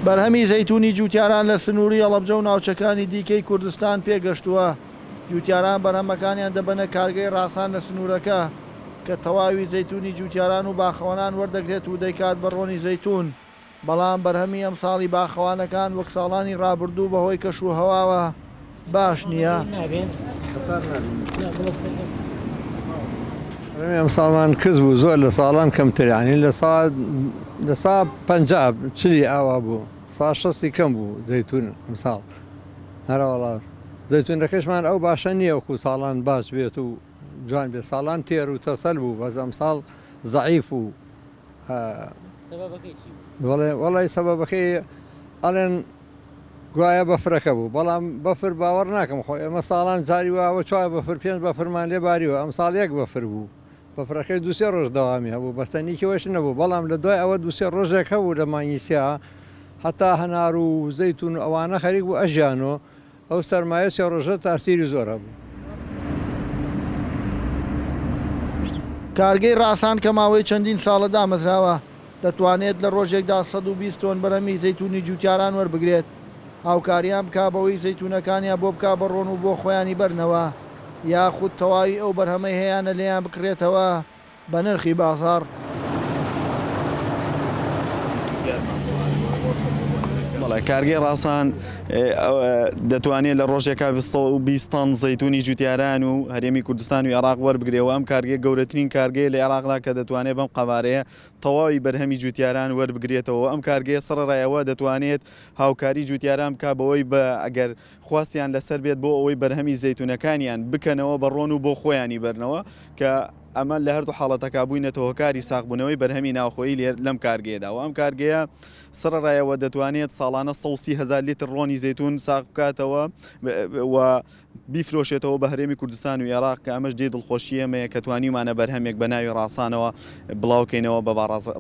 بەرهەمی زەیتوونی جووتیاران لە سنووری هەڵەبجە و ناوچەکانی دیکەی کوردستان پێگەشتووە، جووتیاران بەرهەمەکانیان دەبەنە کارگەی ڕاسان لە سنوورەکە، کە تەواوی زەیتوونی جووتیاران و باخەوانان وەردەگرێت و دەیکات بە ڕۆنی زەیتوون. بەڵام بەرهەمی ئەمساڵی باخەوانەکان وەک ساڵانی رابردوو بەهۆی کەش و هەواوە باش نییە. وەڵای سەبەبەکەی ئەڵێن گوایە بەفرەکە بوو بەڵام بەفر باوەڕ ناکەم خۆ ئێمە ساڵان جاری واوە چوار بەفر پێنج بەفرمان لێ باریوە ئەم ساڵ یەک بەفر بوو بەفرەکەی دووسێ ڕۆژ دەوامی هەبوو بەستەنیکیەوەش نەبوو بەڵام لە دوای ئەوە دووسێ ڕۆژێک هەبوو لە مانگی سیا هەتا هەنار و زەیتون ئەوانە خەریک بوو ئەژیانۆ ئەو سەرمایە سێ ڕۆژە تاسیری زۆر هەبوو. کارگەی ڕاسان کە ماوەی چەندین ساڵە دامەزراوە، دەتوانێت لە ڕۆژێکدا سەد و بیست تۆن بەرهەمی زەیتوونی جووتیاران وەربگرێت، هاوکاریان بکا بەوەی زەیتوونەکانیان بۆ بکا بە ڕۆن و بۆ خۆیانی بەرنەوە، یاخود تەواوی ئەو بەرهەمەی هەیانە لێیان بکڕێتەوە. بە نرخی بازاڕ. بەڵێ کارگەی ڕاسان دەتوانێت لە ڕۆژێکا بیست تەن زەیتونی جوتیاران و هەرێمی کوردستان و عێراق وەربگرێەوە ئەم کارگەی گەورەترین کارگەیە لە عێراقدا کە دەتوانێت بەم قەوارەیە تەواوی بەرهەمی جوتیاران وەربگرێتەوە ئەم کارگەیە سەرڕایەوە دەتوانێت هاوکاری جوتیاران بک بەوەی بە ئەگەر خواستیان لەسەر بێت بۆ ئەوەی بەرهەمی زەیتونەکانیان بکەنەوە بە ڕۆن و بۆ خۆیانی بەرنەوە کە ئەمە لە هەردوو حاڵەتەکە بووینەتە هۆکاری ساغبوونەوەی بەرهەمی ناوخۆیی لێر لەم کارگەیەدا و ئەم کارگەیە سڕڕایەوە دەتوانێت ساڵانە سەوسی هزار لیتر ڕۆنی زەتون ساغ بکاتەوە و بیفرۆشێتەوە بە هەرێمی کوردستان و عێراق کە ئەمەش جێ دڵخۆشی ئەمەیە کە توانیمانە بەرهەمێک بە ناوی ڕاسانەوە بڵاوکەینەوە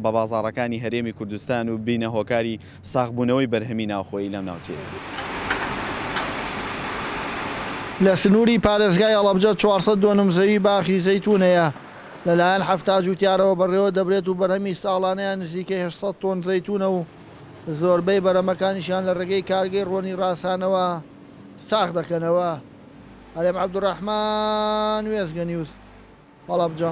بە بازارەکانی هەرێمی کوردستان و بینە هۆکاری ساغبوونەوەی بەرهەمی ناوخۆیی لەم ناوچەیە. لە سنووری پارێزگای هەڵەبجە چوار سەد دۆنم زەوی باخی زەیتوون هەیە، لەلایەن حەفتا جووتیارەوە بەڕێوە دەبرێت و بەرهەمی ساڵانەیان نزیکەی هەشت سەد تۆن زەیتوونە و زۆربەی بەرەمەکانیشیان لە ڕێگەی کارگەی ڕۆنی ڕاسانەوە ساغ دەکەنەوە. هەرێم عەبدولڕەحمان، وێستگەنیوز. وەڵابجا.